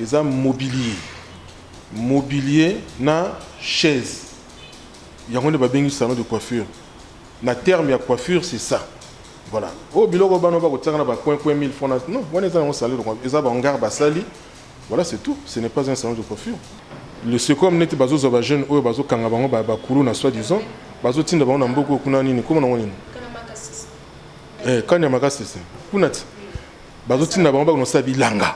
Eza mobilier mobilier na chaise yango nde babengi salon de coiffure na terme ya coiffure c'est ça voilà oyo oh, biloko bana bakotiaka na bacoin coin 1000 francs non wana eza yango salon de coiffure eza baongare basali voilà c'est tout ce n'est pas un salon de coiffure le secom neti bazozwa bajeune oyo bazokanga bango bakulu na soi disant bazotinda bango na mboka oyo kuna nini koma nango nini eh, kani ya makasese kuna ti bazotinda bango bakonosala bilanga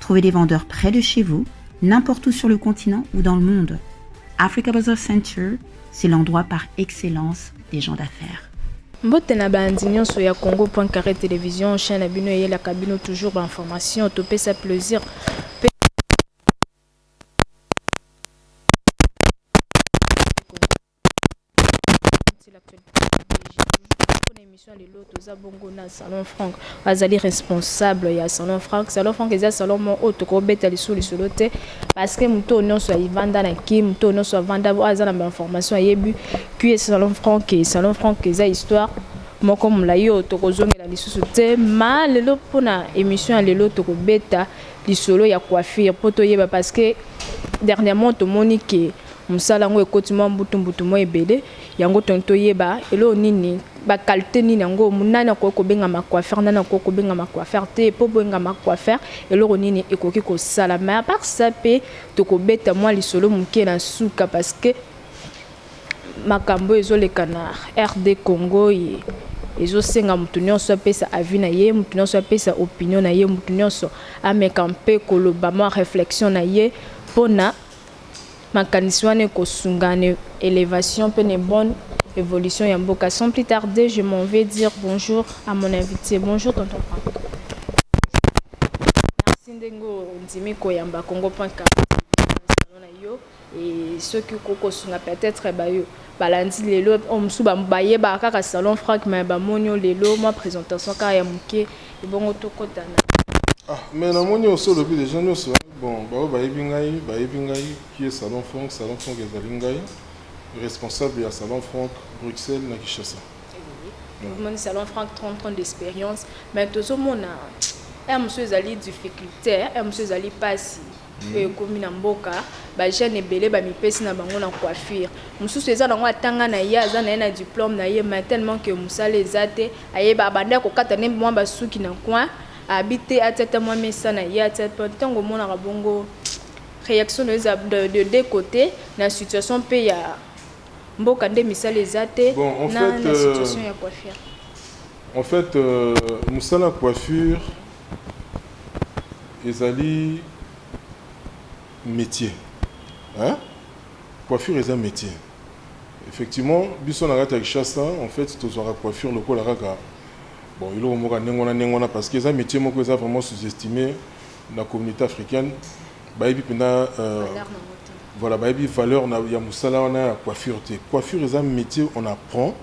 Trouvez des vendeurs près de chez vous, n'importe où sur le continent ou dans le monde. Africa Bazaar Center, c'est l'endroit par excellence des gens d'affaires. mbote na baanzi nyonso ya congo point carré télévision chaine na bino eyelaka bino toujours bainformation topesa plaisir émission ya lelo toza bongo na salon frank azali responsable ya salon frank salon frank eza salon moko oyo tokobeta lisusu lisolo te parce que moto oyo nyonso ayivanda na ki moto oyo nyonso avanda oyo aza na bainformation ayebi qe salon frank e salon frank eza histoire moko molai oyo tokozongela lisusu te ma lelo mpona émission ya lelo tokobeta lisolo ya coiffure mpo toyeba parce que dernièrement tomoni ke Mosala yango ekoti mwa mbutu mbutu mwa ebele, yango tolingi toyeba eloko nini ba qualite nini yango nani akoki kobengama coiffeur nani akoki kobengama coiffeur te mpo bengama coiffeur eloko nini ekoki kosala mais à part ça mpe tokobeta mwa lisolo moke na suka parce que makambo ezoleka na rd congo ye ezosenga moto nyonso apesa avis na ye moto nyonso apesa opinion na ye moto nyonso ameka mpe koloba mwa réflexion na ye mpo na Makanisi wana ekosunga na elevation pe na bonne evolution ya mboka. Sans plus tarder, je m'en vais dire bonjour à mon invite. Bonjour tonton Franck. Merci ndenge ondimi koyamba Kongo.com na lisano na yo et soki okoki kosunga peut-etre bayo. Balandi lelo oyo mosusu bayebaka kaka salon Franck mais bamoni yo lelo mwa presentation kaka ya moke ebongo tokota na. Ah mais namoni osi olobi les gens nionso bon baoyo bayebi ngai bayebi ngai qui est salon Franck salon Franck ezali ngai responsable ya salon Franck Bruxelles na Kinshasa. Omoni salon Franck 30 ans d'experience mais tozomona heure mosusu ezali difficulte heure mosusu ezali pasi. oyo ekomi na mboka ba jeune ebele ba mipesi na bango na coiffure mususu eza nango atanga na ye aza na ye na diplome na ye mais tellement que musala eza te ayeba abanda ya kokata nde mwa basuki na coin abi te atia ata mwa mesa na ye atia mpe ntango omonaka bongo reaction na eza de, de deux côtés na situation mpe ya mboka nde misala eza te bon, en na, fait, na situation ya coiffure en fait euh, musala coiffure Ezali metier hein coiffure eza metier effectivement biso na kati ya kishasa en fait tozwaka coiffure lokola kaka bon eloko moko ya ndenge wana ndenge wana parce que eza metier moko eza vraiment sous estime na communauté africaine bayebi mpenza euh, voilà bayebi valeur na, ya mosala wana ya coiffure te coiffure eza metier on apprend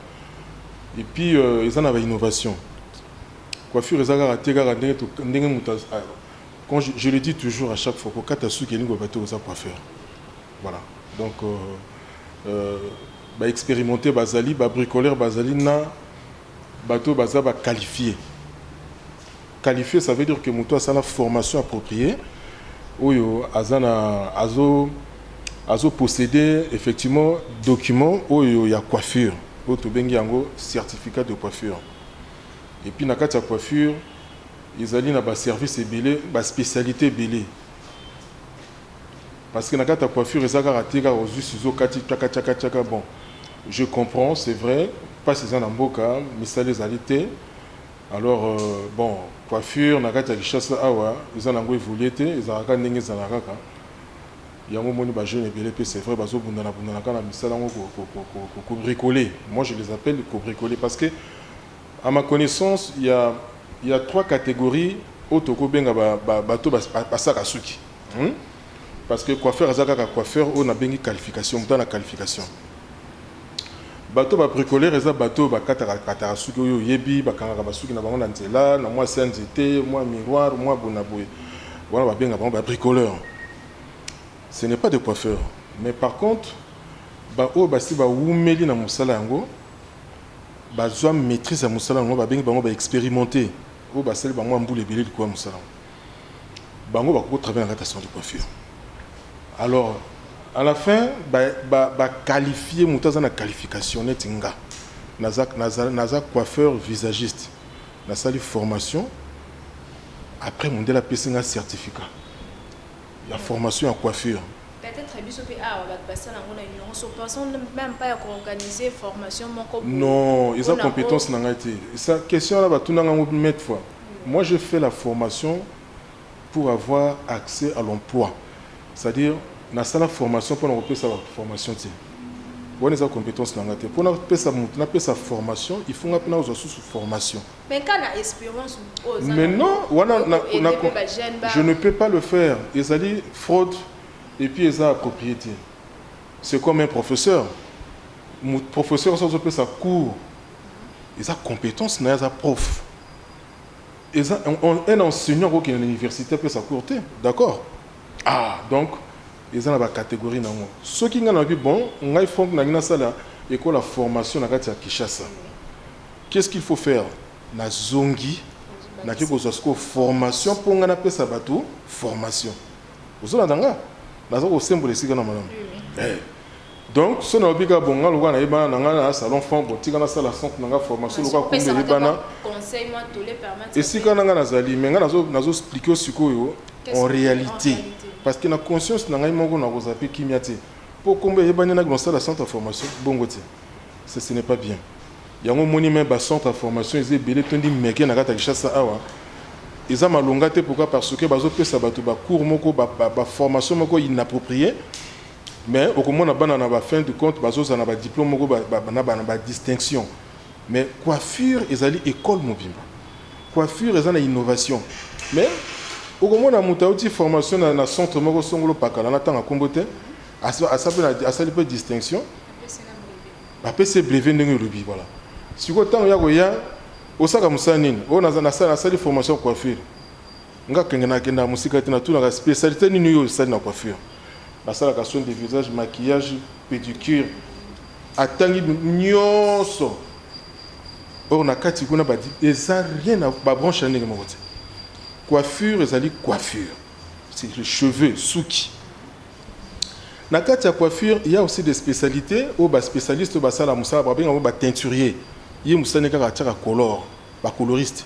et puis euh, eza na ba innovation Coiffure eza kaka te kaka ndenge to ndenge mutu az a quand je je le dis toujours à chaque fois ko kata suki elingi koloba te oza coiffeur voilà donc euh, ba experimenter bazali ba bricoleur bazali na bato oyo baza ba qualifie qualifie ça veut dire que moto asala formation appropriée oyo aza na azo azo posséder effectivement document oyo ya coiffure oyo tobengi yango certificat de coiffure et puis na kati ya coiffure ezali na ba service ebele ba specialite ebele parce que na kati ya coiffure eza kaka te kaka ozui sizo okati tchaka tchaka tchaka bon je comprends c'est vrai pasi eza na mboka misala ezali te alors euh, bon coiffure na kati ya Kinshasa awa eza na yango evolue te ezalaka kaka ndenge ezalaka kaka Yango omoni ba jeunes ebele pe c'est vrai bazo bundana bundana kaka na misala yango ko ko bricoler moi je les appelle ko bricoler parce que à ma connaissance il ya il ya trois categories oyo toko benga ba ba bato ba saka suki hum parce que coiffeur aza kaka coiffeur oyo na bengi qualification moto aza na qualification bato ba bricoler eza bato oyo ba kataka kataka suki oyo oyebi ba kangaka ba suki na bango na nzela na mwa se ya nzete mwa miroir mwa bonaboye wana ba benga bango ba bricoleur ce n'est pas des coiffeurs mais par contre ba oyo basi ba wumeli na musala yango ba zwa maitrise ya musala yango ba bengi bango ba experimente oyo ba sali bango mbula ebele likolo ya musala yango bango ba ko travailler na kati ya salon de coiffure alors à la fin ba ba, ba qualifier mutu aza na qualification neti nga naza naza naza coiffeur visagiste Nasali formation après mundele apesi nga certificat ya formation ya coiffure. Peut etre biso pe awa batu basala ngo na ignorance pensant meme pas ya ko organiser formation moko boye. Non eza competence na ngai te. Eza question wana batuna nga ngo mille fois. Moi j'ai fait la formation. pour avoir accès à l'emploi c'est à dire na sala formation pona ko pesa batu formation te wana eza competence na nga te pona pesa mutu na pesa formation il faut nga pe na zua susu formation mais ka na esperance mutu oza mais non wana na na je ne peux pas le faire ezali fraude et puis eza approprié te c'est comme un professeur mutu professeur ozo pesa cours eza competence na ye aza prof Eza un enseignant ako kende na universite apesa cours te d'accord ah donc eza na ba categorie na ngo soki nga na bi bon ngai Franck na ngi na sala ecole ya formation na kati ya Kinshasa qu'est-ce qu'il faut faire na zongi na ki kozwa siko formation po nga na pesa batu formation ozo landa nga naza ko sembola esika na malamu eh Donc soki nalobi kaka bon nga lokola nayebana na nga na salon franc bon tika nasala centre na nga formation lokola kombo eyebana esika na nga nazali mais nga nazo nazo explique yo sikoyo en realite parce que na conscience na ngai moko nakozala mpe kimia te mpo kombo eyebani naki nasala centre ya formation bongo te ce ce n'est pas bien yango omoni me bacentre ya formation eza ebele tondi meke na kati ya kinshasa awa eza malonga te pourquoi parce que bazopesa bato bacours moko baformation ba, ba moko inapproprié Mais okomona bana na ba fin du compte bazoza na ba diplome moko na ba distinction mais coiffure ezali ecole mobimba coiffure eza na innovation mais okomona mutu awuti formation na, na centre moko songolo pakala na tanga kombo te asali pe distinction bapesi brevet ndenge olobi voilà sikoyo ntango ya koya osaka mosala nini oyo nasali formation coiffure Nga kenge na kenda musika te na tunaka specialite nini yo osali na coiffure. Basalaka soin de visage, maquillage, pedicure. Atangi nionso. Or na kati kuna ba eza rien à ba branche ndenge moko te. Coiffure ezali coiffure. C'est les cheveux, suki. Na kati ya coiffure, il y a aussi des spécialités ou ba spécialistes ba sala musala ba benga ba teinturier. Ye musani kaka ataka color, ba coloriste.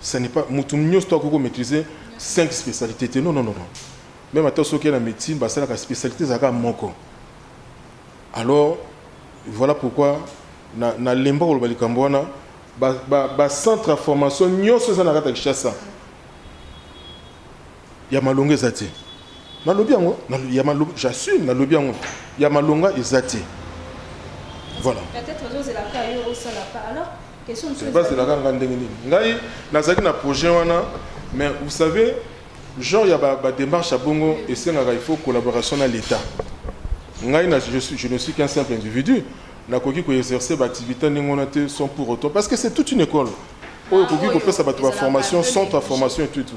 Ça n'est pas mutu nionso to akoki ko maîtriser cinq specialités te non non non non meme ata soki na médecine basalaka specialité ezalaka moko alors voilà pourquoi na na lemba koloba likambo wana ba, ba, ba centre ya formation nionso eza na kati ya Kinshasa Ya malonga eza te nalobi yango ya malonga j'assume nalobi yango ya malonga eza te voilà bazelaka nga ndenge nini ngai nazalaki na projet wana mais vous savez genre ya badémarche ba ya bongo esengaka il faut collaboration na l'état ngai na je, suis, je ne suis qu'un simple individu nakoki koexerce baactivité ndenge wana te sans pour autant parce que c'est toute une école oyo ekoki ah, kopesa bato baformation centre ya formation et tout, tout.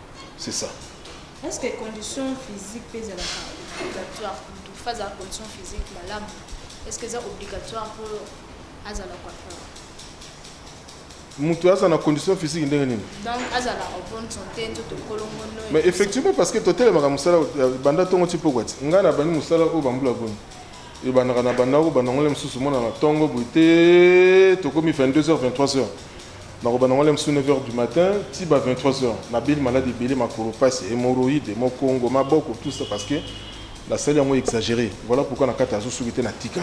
C'est ça. Est-ce que condition physique peut être obligatoire pour une phase de condition physique la lame Est-ce que c'est obligatoire pour azala coiffeur mutu aza na condition physique ndenge nini mais effectivement parce que totelemaka mosala banda ntongo ti pokwa ti ngai nabandi mosala oyo bambula boni ebandaka na bandako bandangole mosusu mona na ntongo boye te tokomi 22 heures 23 heures Nakobanda yango liboso 9 heures du matin ti ba 23 heures. Nabeli maladi ebele, makolo pasi, hemorroïde, mokongo, maboko, tout ça parce que nasali yango exagere. Voilà pourquoi nakata azo suki te natika.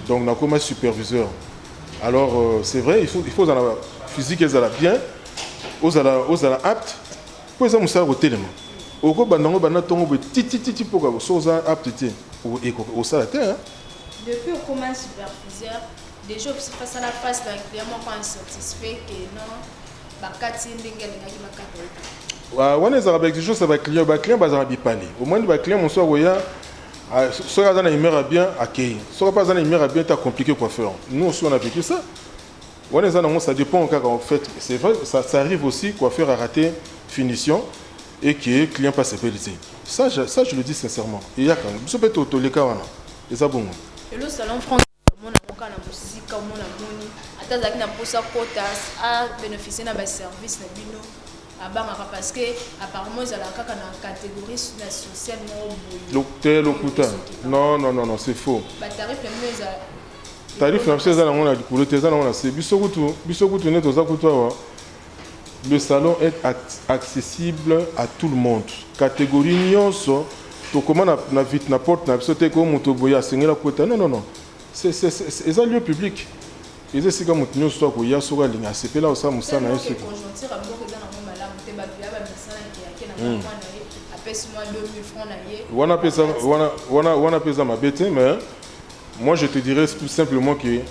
Donc nakoma superviseur. Alors euh, c'est vrai, il faut, il faut ozala physique ezala bien, ozala, ozala apte, mpo eza mosala kotelema. Okobanda yango banda ntongo boye titititi mpo kaka so oza apte te, o- eko- osala te. hein. Depuis okoma superviseur, Dejà obsi face à la face na client moko insatisfait que non bakati ye ndenge alingaki bakata ye te. Wa- wana ezalaka baexigence ya baclient baclient bazalaka bipale omoni baclient mosusu akoya a- so- soki aza na humeur ya bien akei soki mpe aza na humeur ya bien te acomplike coiffeur nous aussi on a vécu ça wana eza nango ça dépend kaka en fait c'est vrai ça, ça arrive aussi coiffeur a raté finition et que client mpe asepeli te ça, je- ça je le dis sincèrement eyaka biso mpe to- toleka wana eza bongo Lelo salon franc omona yango kaka na mosika omona moni ata azalaki na mposa kota a beneficie na baservice na bino abangaka parce que apparemment ezalaka kaka na catégorie na sociale moko boye lokuta non non non non c'est faux batarif na bino eza tarif na biso eza nango na likolo te eza nango na se biso kutu biso kutu nde toza kutu awa Le salon est accessible à tout le monde categorie nionso tokoma na na porte na biso te ko moto boye asengeli akota non non non eza lieu public eza esika moto nyonso to akoya soki alingi asepeli akosala mosala na ye soki hmm. wana mpe eza mabe te mais moi je te dirais tout simplement que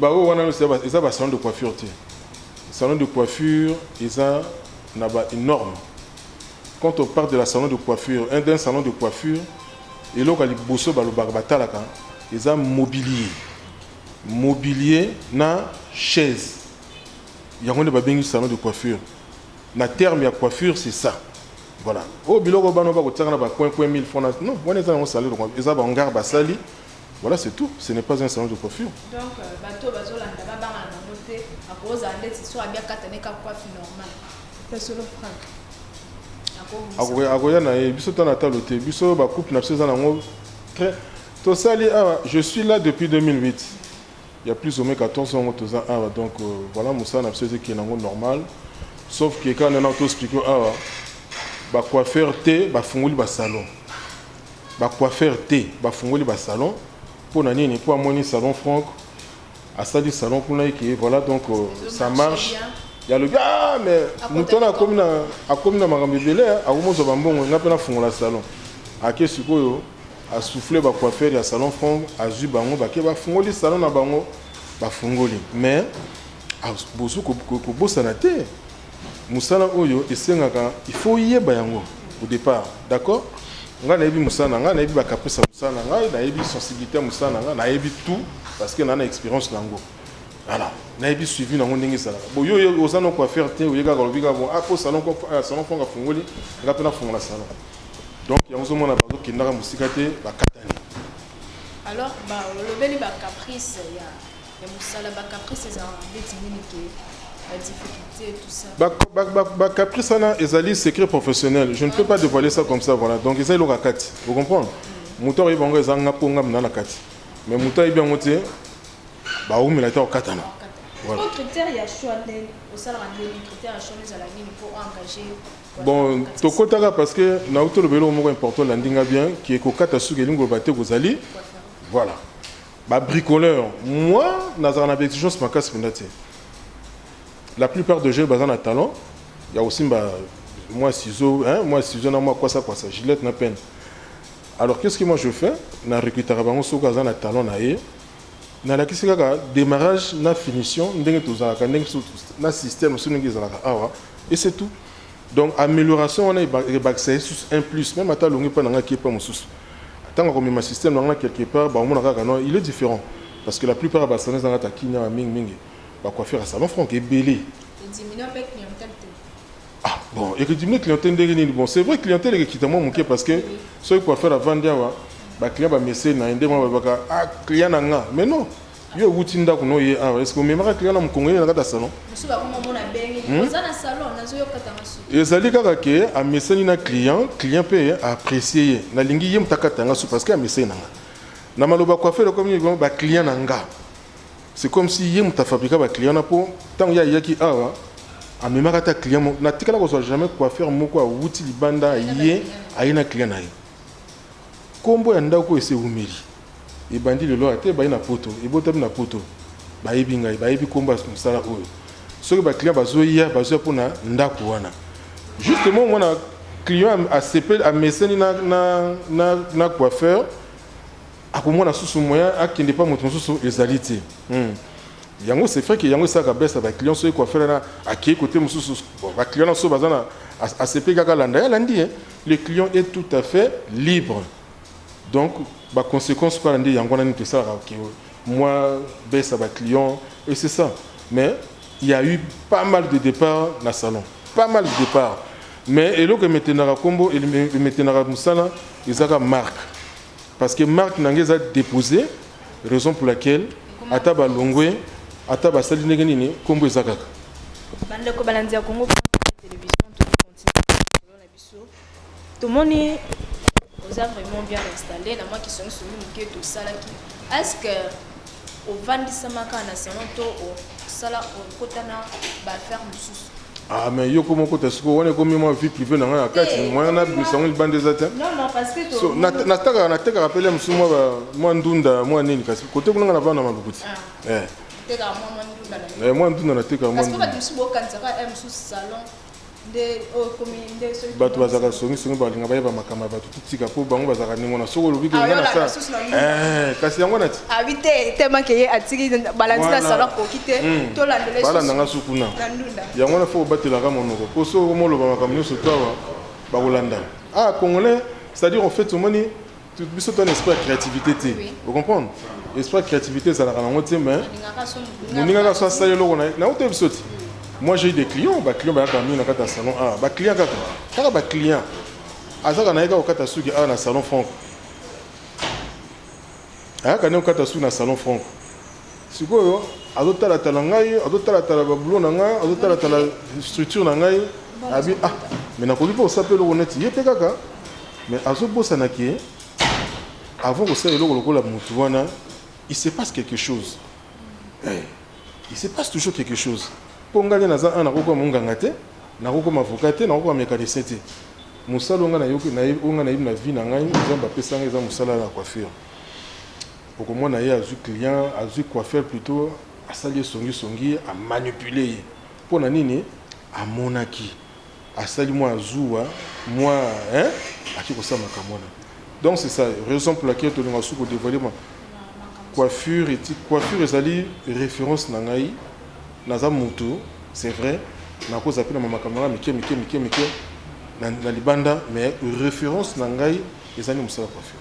Baoyo wana eza ba salon de coiffure te. Salon de coiffure eza na ba norme. Quand on parle de la salon de coiffure, un d'un salon de coiffure, eloko ya liboso balobaka batalaka eza mobilier. Mobilier na chaise. Yango nde babengi salon de coiffure. Na terme ya coiffure c'est ça. Voilà. Oyo biloko bana bakotiaka na ba coin coin 1000 francs. Non, wana eza yango salon de coiffure. Eza ba hangar basali Voilà c'est tout, ce n'est pas un salon de coiffure. Donc euh, bato oyo bazolanda babangana bango te akozala ndeti so abi akata ne kaka coiffe normal mpe solo frank akoya na ye biso tana talo te biso bacouple na biso eza nango très tosali awa je suis là depuis 2008 il y a plus ou moins 14 ans toza awa donc euh, voilà mosala na biso ezekende yango normal sauf que kaka nana toexplike awa bacoiffeur te bafungoli basalon Ba coiffeurs te ba fungoli ba salon pona nini po amoni salon franck asali salon kuna eke voilà donc ça marche ya lobi ah mais moto wana akomi na akomi na makambo ebele akomozwa ba mbongo nga pe na fungola salon ake sikoyo a souffler ba coiffeurs ya salon franck azwi bango bake ba fungoli salon na bango ba fungoli mais bozwi kobosana te Musala oyo esengaka il faut oyeba yango au depart d'accord ngai nayebi musala na ngai nayebi ba caprice ya musala na ngai nayebi sensibilite ya musala na ngai nayebi tout parce que naza na experience na yango voilà nayebi suivi na yango ndenge ezalaka bon yo oye- oza na coiffeur te oye kaka olobi kaka bon apo salon ko- ah, salon fonga afungoli ngai mpe nafungola salon donc yango ozomona bazokendaka mosika te bakatani Alors, ba, olobeli ba caprice ya ya musala ba caprice ezalaka ndeti nini ke ba difficulté tout ça ba, ba, ba, ba caprice wana ezali secret professionnel je ne peux pas dévoiler ça comme ça voilà donc eza eloko ya kati vous comprendre mm. moto akoyeba yango eza nga mpo nga mna na kati mais moto ayebi yango te baumela te okatana voilà. bon tokotaka parce que nauti olobeli oyo moko important olandi nga bien ki ekokata suki elingi oloba te kozali voilà Ba bricoleurs moi nazalaka na ba exigences makasi penza te la plupart de jeux baza na talent ya kosimba mwa ciseaux hein mwa ciseaux na mwa kwasa kwasa gillette na peine alors qu'est-ce que moi je fais na recrutaka bango soki aza na talent na ye nalakisi kaka demarrage na finition ndenge tozalaka ndenge biso na système biso ndenge ezalaka awa et c'est tout Donc amelioration wana ebakisa ye susu un plus meme ata alongi epai na ngai akie epai mosusu ntango akomema système na ngai quelque part bakomona kaka non il est différent parce que la plupart ya ba salons eza na kati ya kin awa mingi mingi ba coiffeur ya salon franc ebele ah bon ekodiminue clientèle ndenge nini bon c'est vrai clientèle ekekita mwa moke parce que soki coiffeur avandi awa ba client bamese na ye ndenge wana balobaka ah client na nga mais non Yo owuti ndako no ye awa eske omemaka client na mokongo ye na kati ya salon Musu ba koma mona bengi. Hmm? Oza na salon nazo yoka tanga su. ezali kaka ke amesani na client client mpe aapprécie ye nalingi ye moto akata yanga su parce que amesani na nga na maloba coiffeur ekomi nini vraiment baclient na nga c'est comme si ye moto afabrika baclient na mpo ntango ye ayaki awa amemaka ata client moko natikala kozwa jamais coiffeur moko awuti libanda aye aye na client na ye nkombo ya ndako oyo ese ewumeli ebandi lelo ata ebandi na poto ebotami na poto bayebi ngai bayebi komba mosala oyo soki ba client bazoya bazoya mpo na ndako wana justement mwana client asepeli ameseni na, na, na, na coiffeur akomona susu moyen akende mpa moto mosusu ezali te hmm. yango c'est vrai ke yango esalaka bese ya baclient soki coiffeur na akei kote mosusu baclient na so baza na asepeli kaka alanda ye alandi ye le client est tout à fait libre donc ba consequence kaka nde yango wana neti esalaka que mua baisse ya ba clients et c'est ça mais il ya eu pas mal de depart na salon pas mal de depart mais eloko emetenaka kombo emetenaka musala ezaka marque parce que marque na nga eza depose raison pour laquelle ata balongwe ata basali ndenge nini kombo eza kaka bandeko balandi ya kongo biso tomoni oza vraiment bien installe na mwa kisongisongi moke tosalaki estce ovandisamaka na salon to osala okota na baaffaire mosusu Ah, mais yoko moko ta siko wana ekomi mwa vie privée na ngai na kati mwana na bimisa yango libanda eza te so natekaka natekaka mpele mosusu mwa mwa ndunda mwa nini kasi kote kuna ngai na bana malukuti ah. eh. mwa ndunda natekaka mwa ndunda bato bazalaka songisongi balinga bayeba makambo ya bato totika mpo bango bazalaka ndenge wana soki olobi kenga na sa eh, kasi yango nati abi ah, te temake ye atiki balandi na sala koki te hmm. tolandela balanda nga suku na yango wana fo obatelaka monoko mpo soki okomoloba makambo nyonso to awa bakolanda ah congolais c'est-à-dire en fait omoni biso to na esprit ya créativité te o comprendre esprit ya créativité ezalaka nango te mais moninga kaka so asali eloko na ye nango te biso te moi j'ai des clients ba clients bayaka mingi na kati ya salon awa ba clients kaka kaka ba clients azaka na ye kaka kokata suki awa na salon franco ayaka nde kokata suki na salon franco Sikoyo azo tala tala ngai, azo tala tala ba boulot na ngai, azo tala tala structure na ngai. Abi ah, mais nakoki pe kosala pe eloko neti ye pe kaka. Mais azo bosana ke avant kosala eloko lokola mutu wana, il se passe quelque chose. Eh, il se passe toujours quelque chose. Po ngai nde naza un nakokoma monganga te, nakokoma avocat te, nakokoma mecanicien te. Mosala oyo ngai nayoki, oyo ngai nayebi na vie na ngai, Nzambe apesa ngai eza mosala ya coiffure. Okomona ye azui client, azui coiffeur plutot, asali ye songi songi, a manipuler ye. Pona nini? Amonaki asali mua zuwa, mua hein, akeyi kosala makambo wana. Donc c'est ça raison pour laquelle tolingaka susu ko devoiler ma coiffure et ti coiffure ezali reference na ngai. Naza mutu c'est vrai, nako zapela ma makambo na ngai mike mike mike mike na libanda mais reference na ngai ezali musala coiffure.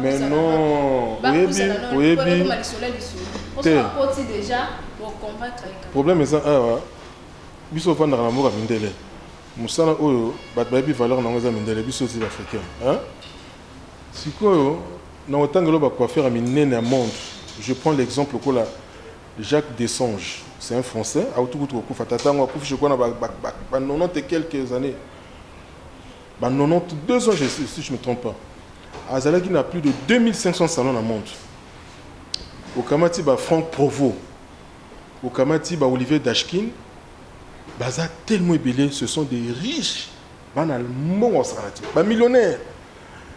Mais non, oyebi, oyebi te. Problème eza awa, biso ofandaka na mboka mindele. Musala oyo bato bayebi valeur nango eza mindele, biso eza africain. Hein? Sikoyo na otangelo ba coiffeur ya minene ya monde. Je prends l'exemple kola Jacques Dessange, c'est un français, autukutu kokufa tata ngo akufi je crois na ba, ba, ba, ba 90 et quelques années. Ba 92 ans je si je me trompe pas. Azalaki na plus de 2500 salons na monde. Okamati ba Franck Provo. Okamati ba Olivier Dashkin. Baza tellement ebele, ce sont des riches. Bana mbongo salati. Ba millionnaires.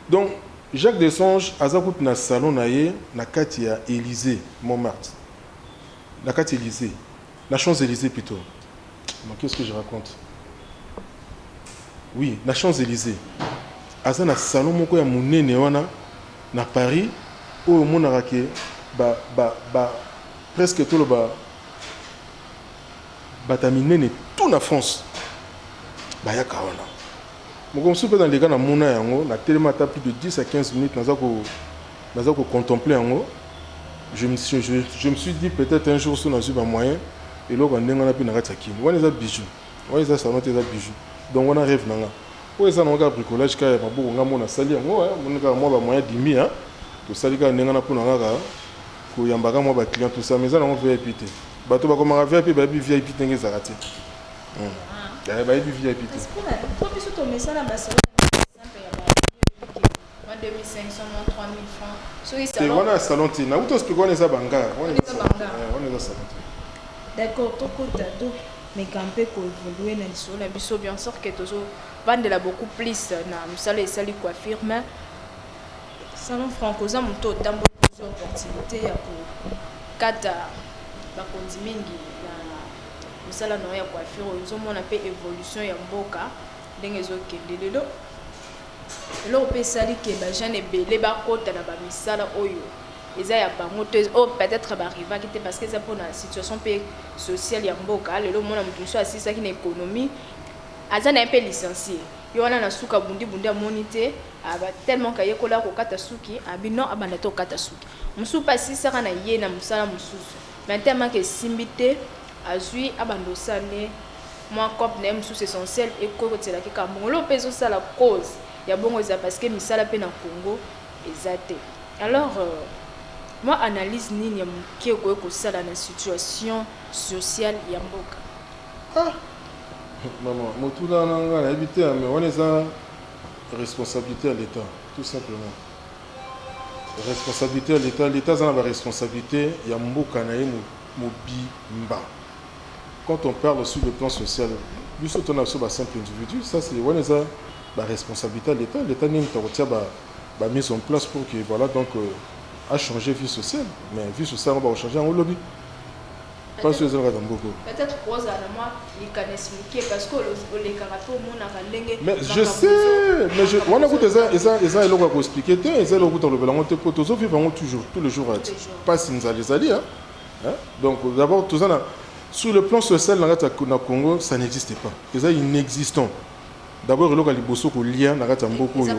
Donc Jacques Desange aza kutu na salon na ye na kati ya Elysée Montmartre. Na kati Elysée. Na champs Elysees plutot mais qu'est ce que je raconte oui na champs Elysees aza na salon moko ya munene wana na Paris oyo omonaka ke ba ba ba presque toloba bata minene tout na France bayaka wana moko mosusu mpe na leka na mona yango na telema ata plus de 10 à 15 minutes naza ko Naza ko contempler yango je me suis je me suis dit peut etre un jour soki nazui ba moyen eloko ya ndenge wana pe na kati ya kin wana eza bijou wana eza salon te eza bijou donc wana reve na nga oyo eza nango kaka bricolage kaka ya maboko nga mona sali yango moni kaka mwa ba moyen dimi ya tosali kaka ndenge wana mpona kaka koyamba kaka mwa ba client tout ça mais eza nango vip te bato bakomaka vip bayebi vip ndenge ezalaka te bayebi vip te Mua 2500 mua 3000 francs soki salon te wana ya salon te na uto explique wana eza banga wana eza salon te eh, wana eza salon te d'accord tokota to meka mpe ko évoluer na lisolo na biso bien sûr que tozo vandela beaucoup plus na mosala esali coiffure mais salon franco oza moto otamboli biso opportunité ya kokata bakonzi mingi na mosala na yo ya coiffure ozomona mpe évolution ya mboka ndenge ezokende lelo Eloko pe esali que ba jeunes ebele ba kota na ba misala oyo eza ya bango te, oyo peut etre ba arrivaki te parce que eza pona situation pe sociale ya mboka. Lelo omona mutu mususu asilisaki na economie, aza naye pe licencie, ye wana na suka abundi bundi amoni te, aba tellement que ayekola ko kata suki, alobi non abanda te ko kata suki. Mususu pe asilisaka naye na musala mususu. Na nte ya manque esimbi te, azui abanda osala nde mua coop na ye mosusu essentiel ekoki kotisela ke kambongolo mpe ezo sala cause ya bongo eza parce que misala mpe na Congo eza te alors mua analyse nini ya mukie okoki kosala na situation sociale ya mboka? Ah! Maman, motuna wana nga nayebi te mais wana eza responsabilite ya l'etat tout simplement. Responsabilite ya l'etat, l'etat aza na ba responsabilite ya mboka na ye mobimba quand on parle sur le plan social biso to na biso ba simple individu ça c'est wana eza ba responsabilite ya l'etat, l'etat nde mutu akotia ba ba mise en place pour que voilà donc a changer vie sociale mais vie sociale yango bako changer yango lobi. Pasi oyo ezalaka na mboka oyo. Peut etre kozala na mwa likanisi mukie parce que olekaka pe omonaka ndenge mais je sais mais je wana kuta eza eza eza eloko ya ko expliquer te eza eloko kuta lobela ngo te po tozo vivre ngo toujours tous les jours ati pasi nzali ezali hein donc d'abord toza na sur le plan social na kati na Congo ça n'existe pas eza inexistant d'abord eloko ya liboso kolia na kati ya mboka oyo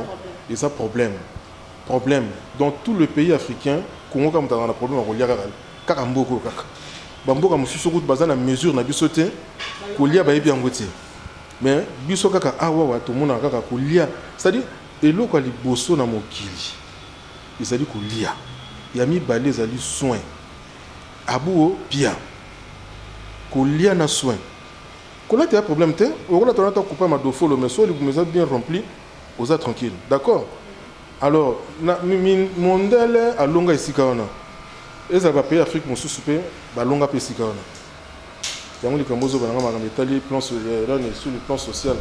eza problème problème dans tout le pays africain Congo kaka mutaka na problème ya kolia kaka Kaka mboka oyo kaka. Ba mboka mususu kutu baza na mesure na biso te. Kolia bayebi yango te. Mais biso kaka awawa tomonaka kaka kolia. C'est à dire eloko ya liboso na mokili ezali kolia. Ya mibale ezali soin. Abuo pia. Kolia na soin. Kolata ya problème te. Okolata olata kupa madofolo mais soki libumu eza bien rempli oza tranquille. D'accord? Alors na mondele alonga esika wana ezala ba pays Afrique mosusu pe balonga pe esika wana yango likambo ozoba nanga makambo etali plan Iran sur le plan social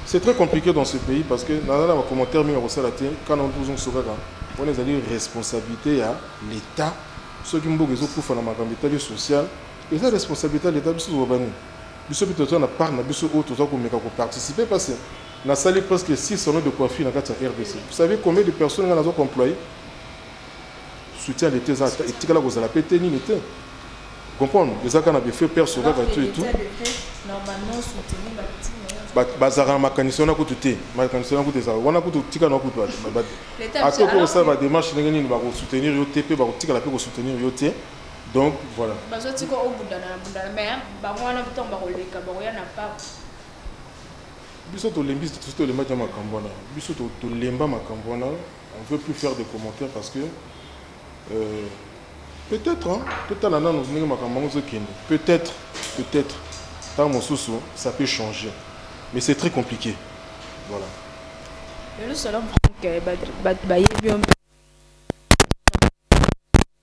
c'est très compliqué dans ce pays parce que naza na ba commentaire mingi akosala te kana tozongisa kaka wana ezali responsabilité ya l'État soki mboka ezokufa na makambo etali social eza responsabilité ya l'État biso tobabani biso pe toza na part na biso oyo toza komeka koparticipe parce Na sali presque six salons de coiffure na kati ya rdc. Vous savez combien de personnes nga nazo employer? Soutien ya l'etat eza ata etikala kozala pe te nini te. Vous comprenez? Eza kaka na ba feux père Soga ba tout et tout. Ba bazalaka na makanisi wana kutu te. Makanisi wana kutu ezalaka wana kutu tika na kutu ba ata okoki kosala ba demarches ndenge nini bako soutenir yo te pe bako tikala pe ko soutenir yo te. Donc voilà. Bazo tika obundana na bundana mais bango wana tango bako leka bakoya na pap. Biso tolembi sosi tolembaki na makambu wana biso tolemba makambu wana on veut plus faire de commentaires parce que peut etre hein totala nanu ndenge makambu yango ezo kende peut etre peut etre tangu mosusu ça peut changer mais c'est très complique voilà. Lelo salon franck batu bayebi yo mpe.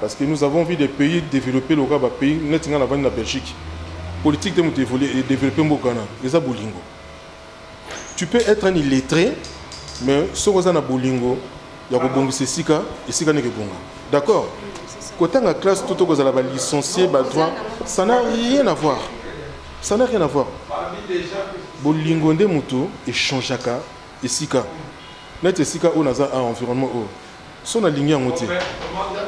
Parce que nous avons vu des pays developpes lokola ba pays neti nga navandi na Belgique politique nde mutu e developper mboka wana eza bolingo tu peux etre un illettre mais soki oza na bolingo ya kobongisa esika esika nde ekebonga d'accord kotanga classe to to kozala ba licencier ba droit ça n'a rien à voir ça n'a rien à voir bolingo nde mutu echangeaka esika neti esika oyo naza a environnement oyo Soki nalingi yango te,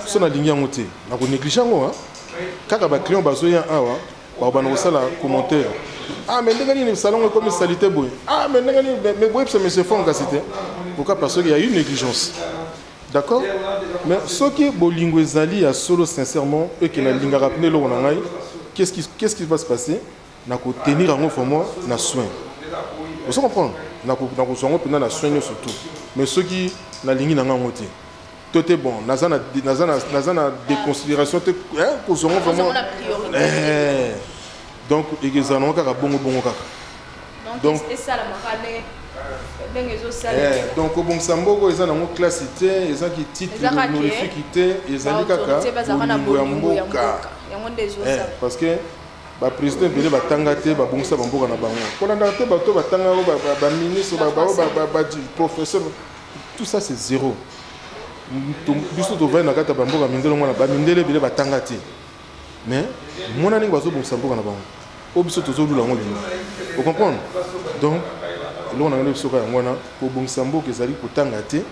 soki nalingi yango te, nako negliger yango hein. Kaka ba clients bazoya awa, bakobanda kosala commentaire. Ah mais ndenge nini salon ekomi salite boye? Ah mais ndenge nini mais mais boyebisa monsieur Fong kasi te. Pourquoi? Parce qu'il y a eu negligence. D'accord? Mais soki bolingo ezali ya solo sincèrement et que nalingaka pena eloko na ngai, qu'est-ce qui qu'est-ce qui va se passer? na ko tenir yango vraiment na soin ozo comprendre na ko na ko zongo pena na soin nyoso tout mais soki na lingi na ngango te to te bon naza na naza na naza na déconsidération te hein ko zongo vraiment eh donc egeza na kaka bongo bongo kaka donc esala makane eh, donc kobongisa mboko eza nango klasi te eza kititre honorifique te ezali kaka bolingo ya mboka eh, parce que Ba president ebele batanga te babungisa bamboka na bango kolandaka te bato batanga oyo baministre baprofesseur tout ça c'est zéro biso tovandi na kati ya bamboka mindele ngwana bamindele ebele batanga te mais mona ndenge bazobongisa mboka na bango oyo biso tozolula yango lelo ocomprendre donc eloko na ngai nde bisoka yango wana kobongisa mboka ezali kotanga te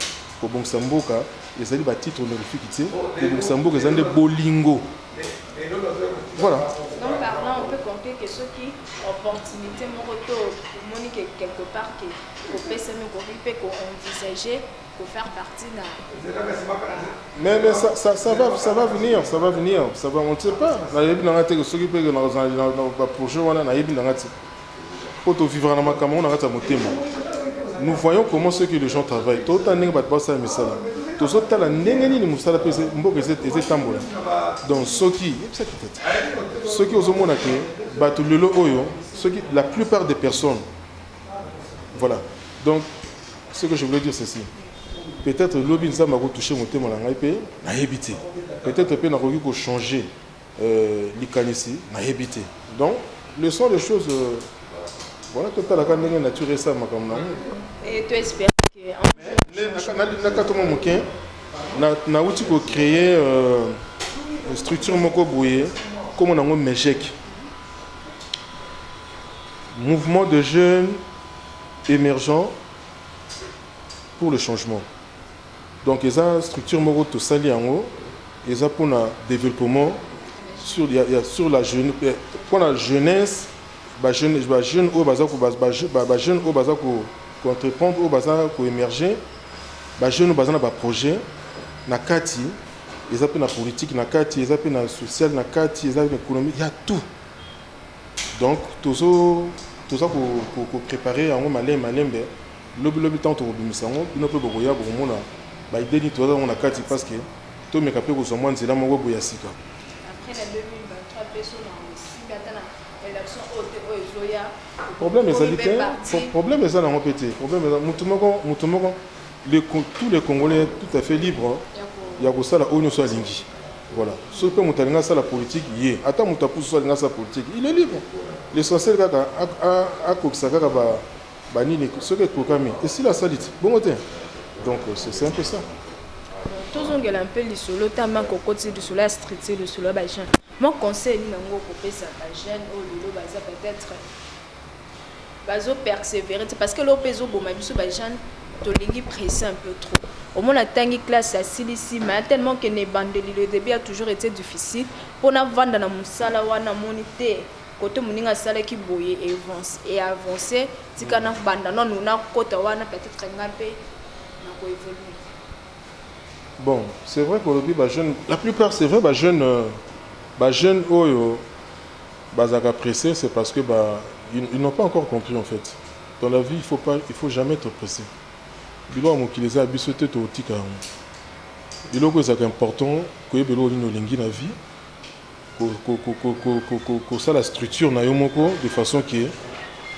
kobongisa mboka ezali batitre honorifique te kobongisa mboka eza nde bolingo Voilà. Donc parlant, on peut compter que ce qui opportunité moko to moni que quelque part que au PSM ko peut ko envisager ko faire partie na Mais mais ça ça ça va ça va venir, ça va venir, ça va on ne sait pas. Na yebi na ngate que ce qui peut que na na projet wana na yebi na ngate. Po to vivre na makambo yango na kati ya motema. Nous voyons comment ce que les gens travaillent. To tala ndenge bato ba sala misala. Tozo tala ndenge nini musala pe mboka eza eza etambola. Donc soki, yebisa ki tata. Soki ozo mona que bato lelo oyo soki la plupart des personnes voilà donc ce que je voulais dire ceci peut-être lobi nzambe ako toucher motema na ngai pe nayebi te peut-être pe nakoki ko changer Euh likanisi nayebi te donc le sont des choses euh, voilà totala ka ndenge nature esala makambo na yango et to espère que nakati mwa moke nauti kocreye euh, structure moko boye nkombo na yango mejeke mouvement de jeunes émergents pour le changement. Donc eza structure moko tosali yango eza pona develpement sur ya ya sur la jeune eh, pona jeunesse ba jeune ba jeune oyo baza ko ba ba ba jeune oyo baza ko ko entreprendre oyo baza ko emerger ba jeune baza na ba projet na kati eza pe na politique na kati eza pe na social na kati eza na économie ya tout donc tozo toza ko ko, ko préparer yango malembe malembe Lobi lobi tango tokobimisa yango, bino pe bokoya bokomona ba idees nini toza nango na kati parce que tomeka pe kozua mwa nzela moko boye ya sika. Problème ezali te, problème eza nango pe te, problème eza mutu moko, mutu moko, le tout le congolais est tout à fait libre ya kosala oyo nionso alingi, voilà. Soki pe mutu alingi asala politique ye, ata mutu ya pusu soki alingi asala politique il est libre, l'essentiel kaka akokisa kaka ba Ba nini soki ekokami esila salite bongo te donc c'est un peu ça. tozongela mpe lisolo ta manke okoti lisolo ya structure lisolo ya bajeune mwa conseil nini yango okopesa bajeune oyo lelo baza peut-être bazopersévere te parce que leo mpe ezoboma biso bajeune tolingi presse un peu trop omona atangi classe asilisi ma tellement ke na ebandeli le début a toujours été difficile mpo navanda na mosala wana amoni te Kote moninga asalaki boye e avance tika na banda nanu na kota wana peut etre nga mpe na ko evoluer. Bon c'est vrai kolobi ba jeune la plupart c'est vrai ba jeune euh, ba jeune oyo bazaka pressé c'est parce que ba ils, ils n'ont pas encore compris en fait dans la vie il faut pas il faut jamais être pressé biloko ya mokili eza ya biso te tokotika yango biloko ezalaka important koyeba eloko nini olingi na vie ko sala structure nayo moko de façon que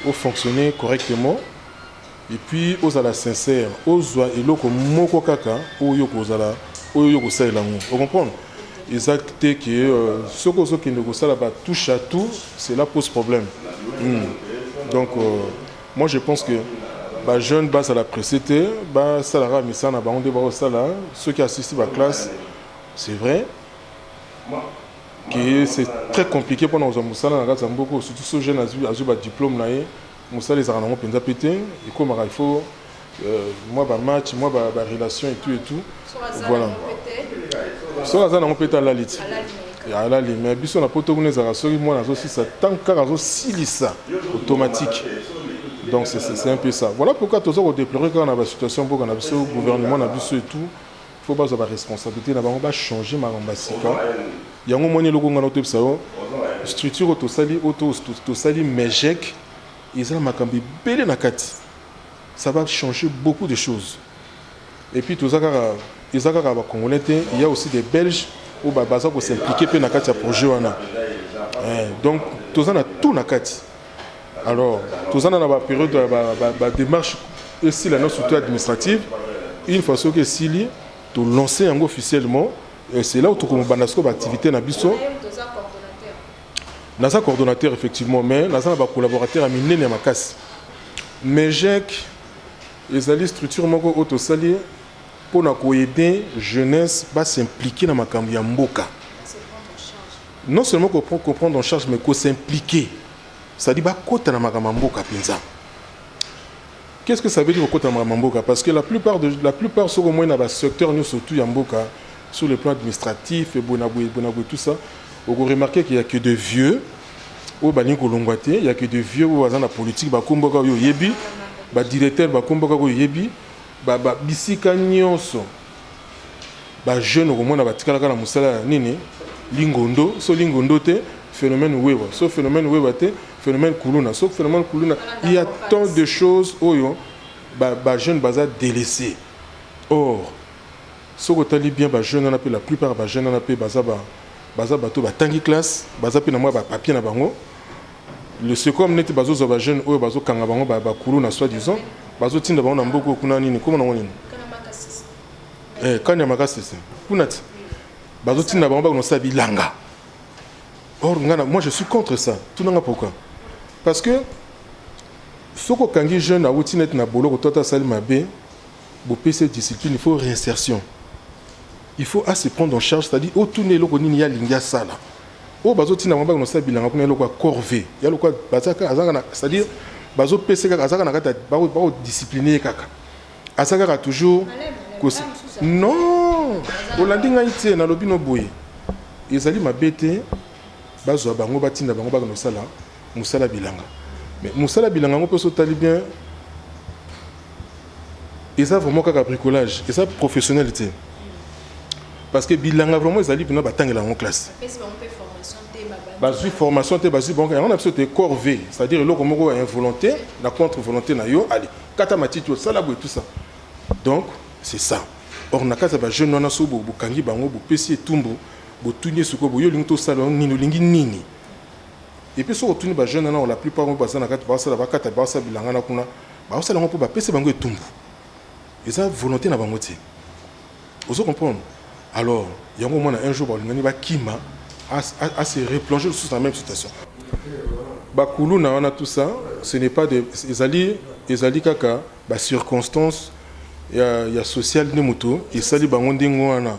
o fonctionner correctement et puis ozala sincère ozua eloko moko kaka oyo yo kozala oyo yo kosalela yango o comprendre eza te que soki ozo kende kosala ba touche à tout cela pose problème hum donc moi je pense que ba jeunes bazala presse te ba sala kaka misala na bango nde bao sala soki asisti ba classe c'est vrai que c'est très compliqué pona kozwa musala na kati ya mboka surtout so jeune azwi azwi ba diplôme na ye musala ezalaka nango penza pe te ekomaka il faut euh, mwa ba match mwa ba, ba relation et tout et tout voilà soki aza nango pe te alali ti alali mais biso na poto kuna ezalaka soki mwana azosisa ntango kaka azosilisa automatique donc c'est un peu ça voilà pourquoi toza kodeplorer kaka na basituation mboka na biso gouvernement na biso et tout faut bazwa ba responsabilite na bango ba changer makambo ya sika yango omoni eloko ngai nakotoyebisa yo structure oyo tosali oyo tosali megec eza na makambo ebele na kati ça va changer beaucoup de choses et puis toza kaka eza kaka ba congolais te il y a aussi des belges oyo baza ko s'impliquer mpe na kati ya projet wana eh, donc toza na tout na kati Alors, tout ça dans la période de la démarche et si la notion administrative, une fois que si li, tout lancer en officiellement, et c'est là où tout comme bandasko activité na biso. Naza coordonnateur effectivement, mais naza ba collaborateur à minene ya makasi. Mais j'ai ezali structure moko oyo tosali mpo na koyede jeunesse basimplike na makambo ya mboka Non seulement ko prend ko prendre en charge mais ko s'impliquer c'est à dire ba kota na makambo ya mboka penza qu'est ce que ça veut dire ko kota na makambo ya mboka parce que la plupart de la plupart soki omoni na ba secteurs nionso tout ya mboka sur le plan administratif et bona boye bona boye tout ça oko remarquer qu'il y a que de vieux oyo balingi kolongwa te il y a que de vieux oyo baza na politique ba kombo kaka oyo oyebi ba directeur ba kombo kaka oyo oyebi ba ba bisika nionso ba jeune okomona batikalaka na mosala ya nini lingondo so lingondo te phénomène wewa so phénomène wewa te phénomène kuluna so phénomène kuluna il y a tant de choses oyo ba, ba jeune baza délaissé or soki otali bien ba jeune wana mpe la plupart ba jeune wana mpe baza ba baza bato batangi classe baza mpe na mwa bapapier na bango Le ce comme neti bazo zwa ba jeunes oyo bazo kanga bango ba ba kuluna soit disant bazo tinda bango na mboka oyo kuna nini kombo nango nini eh camp ya makasese kuna ti bazo tinda bango bakende kosala bilanga or nga na moi je suis contre ça tuna nga pourquoi parce que soki okangi jeune awuti neti na boloko to ata asali mabe bopesi ye discipline il faut réinsertion il faut a se prendre en charge c'est à dire otuna eloko nini ye alingi asala Oyo bazo tinda bango baya kosala bilanga kuna eloko ya corvee ya lokola baza kaka aza kaka na c'est à dire bazo pesa kaka aza kaka na kati ya bako bako discipliner ye kaka aza kaka toujours kosi non olandi ngai te nalobi no boye ezali mabe te bazwa bango batinda bango baya kosala Musala bilanga mais musala bilanga yango pe soki otali bien eza vraiment kaka bricolage eza professionnel te parce que bilanga vraiment ezali mpena batangela yango classe bazwi formation te bazwi bango yango na biso te corve c'est à dire eloko moko ya involonté na contre volonté na yo ali kata matiti osala boye tout ça donc c'est ça or na kati ya bajeune wana so bokangi bango bopesi etumbu botuni ye sikoyo boye olingi tosala nini olingi nini Et puis soki otuni ba jeunes wana la plupart oyo baza na kati bazo sala ba kata bazo sala bilanga na kuna bazo sala yango po ba pesa bango etumbu eza volonte na bango te ozo comprendre alors yango omona un jour ba lingani ba kima a, a, a se replonger lisusu na même situation ba kuluna wana tout ça ce n'est pas de ezali ezali kaka ba circonstances ya ya sociale nde moto esali bango ndenge wana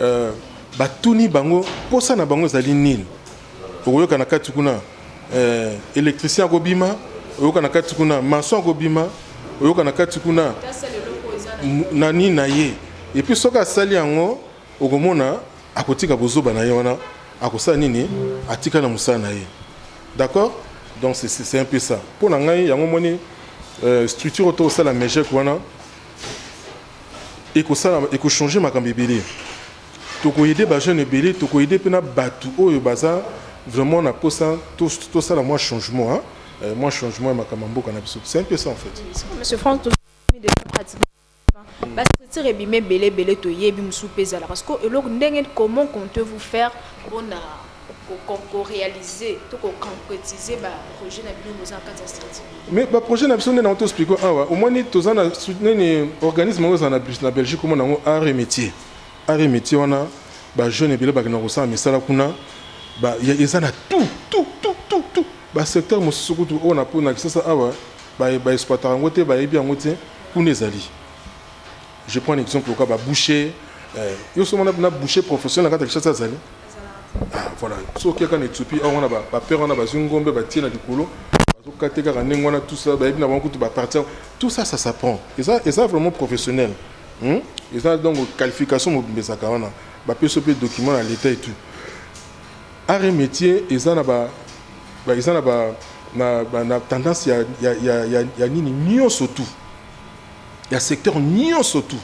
Euh, batuni bango posa na bango ezali nini okoyoka na kati kuna euh, électricien akobima oyoka na kati kuna maçon akobima oyoka na kati kuna nani na ye epuis soki asali yango okomona akotika bozoba na ye wana akosala nini atika na mosala na ye d'accord donc c'est un peu ça mpo na ngai yango moni euh, structure oyo tokosala mejek wana ekosala eko changer makambo ebele toko aider ba jeunes ebele toko aider pe na batu oyo baza vraiment na posa tosala mwa changement mwa changement ya makambo ya mboka na biso c'est un peu ça en fait. Monsieur Franck tozo mona dejà pratiquement ba structures ebimi ebele ebele toyebi mosusu pe ezala parce que eloko ndenge comment comptez-vous faire pona ko realiser to ko concretiser ba projets na bino boza na kati ya strategie mais ba projets na biso nde na to expliquer awa ah omoni toza na nini organisme oyo eza na na Belgique omona yango art et métier art et métier wana ba jeunes ebele bakenda kosala misala kuna ba eza na tout tout tout tout tout ba secteur mosusu kutu oyo na pona kisasa awa ba ba exploitaka yango te bayebi yango te kuna ezali je prends un exemple lokola ba boucher eh, yo somo na boucher professionnel na kati ya kisasa azali Ah, voilà. So okia kaka na Ethiopie, awa wana ba père wana bazwi ngombe batie na likolo, bazokate kaka ndenge wana tout ça, bayebi na bango kutu ba partir. Tout ça ça s'apprend. Eza eza vraiment professionnel. Hmm? Eza donc qualification mobimba ezaka wana. Bapesi pe document na l'état et tout. Art et métier eza na ba ba eza na ba na, ba, na tendance ya ya ya ya, ya nini nyonso tout. Ya secteur nyonso tout.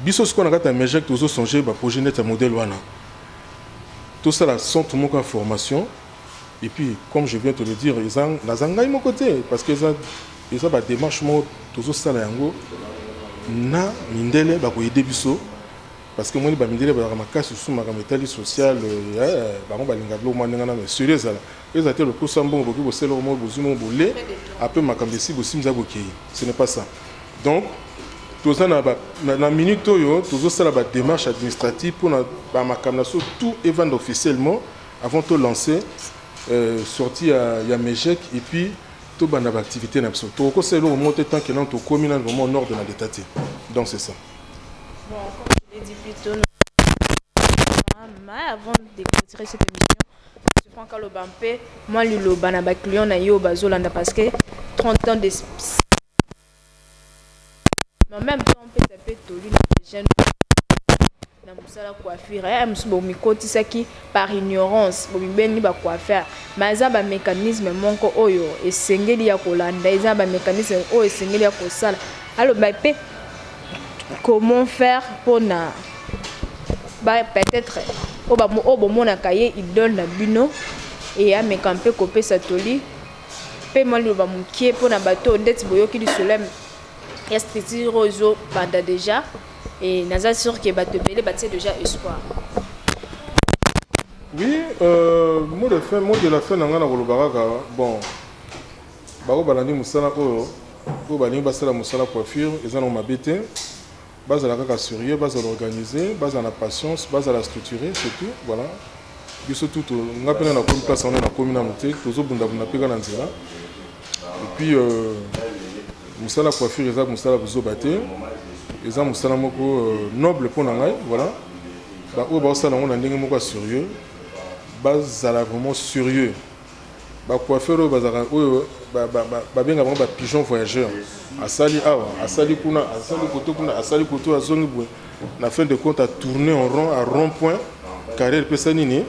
Biso sikoyo na kati ya MEJEC tozo songer ba projets neti ya modèle wana. Tosala centre moko ya formation et puis comme je viens te le dire eza naza ngai moko te parce que eza eza ba demarches moko tozo sala yango na mindele ba ko aider biso parce que omoni ba mindele bazalaka makasi lisusu makambo etali social eh, bango balingaka biloko mwa ndenge wana mais sérieux ezala Eza te lokosa mbongo bokoki bosali eloko moko bozui mbongo bole apres makambo esi bosimza ya bokeyi ce n'est pas ça donc toza na ba na minute oyo tozo sala ba demarche administrative pona ba makambo na so tout evanda officiellement avant to lancer euh, sortie ya, ya mejec et puis tobanda ba activité na biso tokokosala eloko moko te tant que nano tokomi nano vraiment nord de na leta te donc c'est ça bon, comme je l'ai dit plus tôt, mais avant de clôturer cette émission Monsieur Franck aloba mpe mwa liloba na ba clients na ye oyo bazolanda parce que 30 ans d'experience mais en meme temps opesa mpe toli na ba jeunes oyo na mosala coiffure ya mosusu bomikotisaki par ignorance bomibengi ba coiffeur mais eza ba mecanisme moko oyo esengeli ya kolanda eza ba mecanisme oyo esengeli ya kosala aloba mpe comment faire pona ba peut etre oyo bomonaka ye idole na bino et ameka mpe kopesa toli mpe mwa liloba mokie mpo na bato ndeti boyoki lisolo ya structure oyo ezobanda deja et naza sur ke bato ebele batie deja espoir Oui, euh, mot de fin, mot de la fin, nanga na kolobaka, bon, Ba oyo balandi musala oyo oyo balingi basala musala coiffure eza nango mabe te bazala kaka serieux bazala organise bazala na patience bazala structure c'est tout voila biso tout to nga pena na komi place wana na komi nanu te tozo bunda bunda pe kaka na nzela et puis euh, musala coiffure eza musala buzoba te eza musala moko euh, noble pona ngai voila ba oyo baosala nango na ndenge moko ya serieux bazala vraiment serieux Ba coiffeur oyo bazalaka oyo babenga bango ba pigeon voyageur asali awa asali kuna asali koto kuna asali koto azongi boye na fin de compte a tourner en rond a rond point carrière epesa nini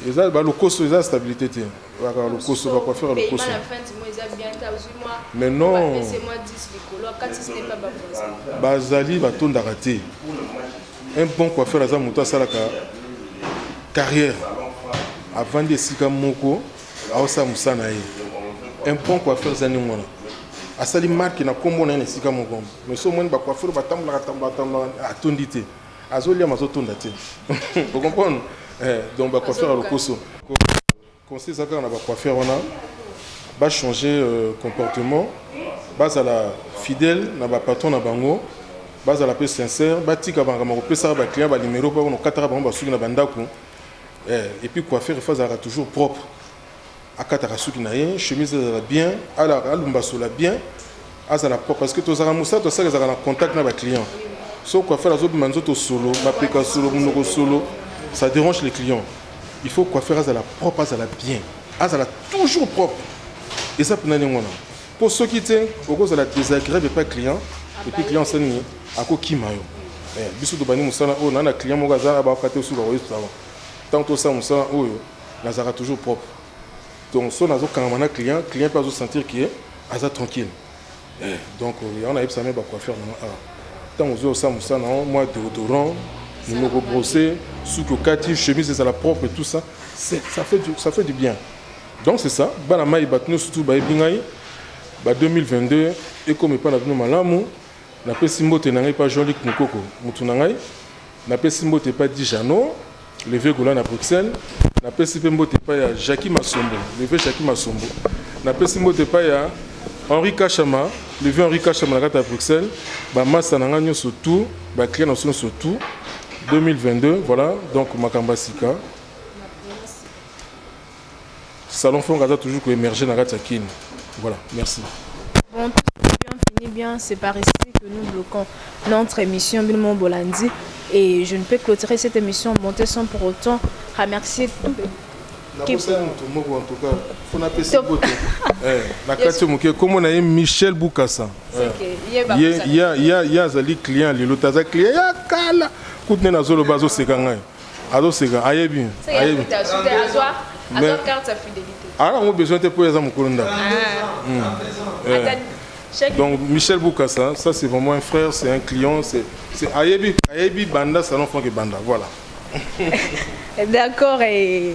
eza balokoso eza stabilité te bakaka lokoso bacoiffeur ya lokoso mais non bazali batondaka te Un bon coiffeur aza mutu asalaka carrière avandi esika moko aosala mosala na ye. Un bon coiffeur eza ndenge wana asali marke na nkombo na ye na esika moko mais so omoni bacoiffeur batambolaka tambolaka tambolaka atondi te azoliama azotonda te okomprendre eh, donc bacoiffeur ya lokoso Conseil eza kaka na ba coiffeurs wana ba changer comportement bazala fidèle na ba patrons na bango bazala pe sincère batika makambo ya kopesaka ba clients ba numero po bakona kataka bango ba suki na ba ndaku eh et puis coiffeur il faut azalaka toujours propre akataka suki na ye chemise ezala bien alumbasola bien azala propre parce que tozalaka mosala tosala ezalaka na contact na ba client so coiffeur azobima nzoto solo mapeka solo monoko solo ça dérange les clients il faut coiffeur azala propre azala bien azala toujours propre eza mpena ndenge wana mpo soki te okozala désagréable epa client epuis client asali nini akokima yo eh, biso tobandi mosala oyo na na client moko aza abaka te osuka koyesutama ntango tosala mosala oyo nazalaka toujours propre Donc son azo kangama na client, client pe azo sentir que aza tranquille. Eh, donc yango nayebisa me ba coiffeur na nga awa. Ntango ozwi osala mosala na yango mwa deodorant, monoko brosse, suki okati, chemise ezala propre et tout ça, c'est- ça fait du, ça fait du bien. Donc c'est ça, bana mai bato nyonso tu bayebi ngai, ba 2022 ekomi epai na bino malamu, Napesi mbote na ngai epa Jean Luc Mukoko mutu na ngai, napesi mbote epa Di Jeannot le vieux Gola na Bruxelles, napesi mpe mbote epa ya Jackie Masombo le vieux Jackie Masombo, napesi mbote epa ya Henri Kashama le vieux Henri Kashama na kati ya Bruxelles, ba masta na ngai nionso tout, ba clients na biso nionso tout, 2022 voilà donc makambo ya sika. Salon Fonga aza toujours ko emerger na kati ya Kin. Voilà, merci. Bon, bien fini bien, c'est par ici que nous bloquons notre émission Bilmo Bolandi et je ne peux clôturer cette émission montée sans pour autant remercier tout nakosala moto moko en tout cas mpo napesi bote eh, na kati moke nkombo na ye michel bukasa eh. ye azali client lelo te aza client ya kala kutu nde nazoloba azoseka ngai azo seka ayebi ayebi mais aza yango besoin te mpo aza mokolo ndako ah. hmm. eh. donc michel bukasa ça c'est vraiment un frère c'est un client c'est ayebi ayebi banda salon frank ebanda voilà d'accord et